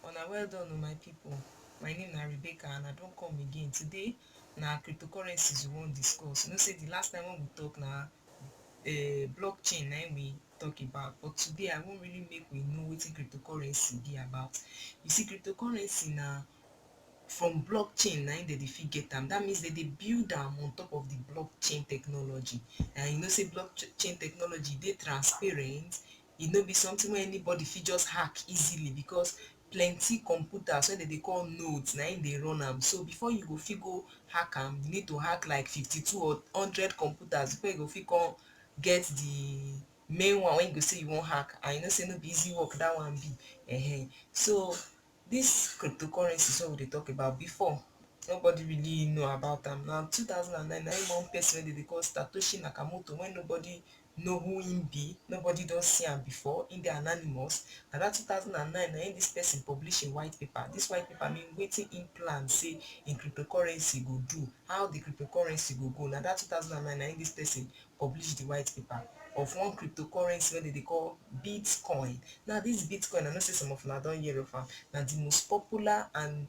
Una well done o my people, my name na Rebecca and I don come again. Today na cryptocurrencies we wan discuss. You know say the last time when we talk na uh, blockchain na we talk about but today I wan really make we know wetin cryptocurrency be about. You see cryptocurrency na from blockchain na im dem dey fit get am. That means dem dey build am on top of the blockchain technology and you know say blockchain technology dey transparent, e no be something wey anybody fit just hack easily because plenty computers wey dem dey call nodes na im dey run am. So before you go fit go hack am, you need to hack like fifty two or hundred computers before you go fit come get the main one wey you go say you wan hack and you know say no be easy work that one be ehen. So this cryptocurrencies wey we dey talk about before nobody really know about am na two thousand and nine na im one person wey dem dey call Satoshi Nakamoto wey nobody know who im be, nobody don see am before, im dey anonymous, na dat two thousand and nine na im dis person publish im white paper, dis white paper mean wetin im plan sey im cryptocurrency go do, how di cryptocurrency go go, na dat two thousand and nine na im dis person publish di white paper of one cryptocurrency wey dem dey call Bitcoin, now dis Bitcoin I know sey some of una don hear of am, na di most popular and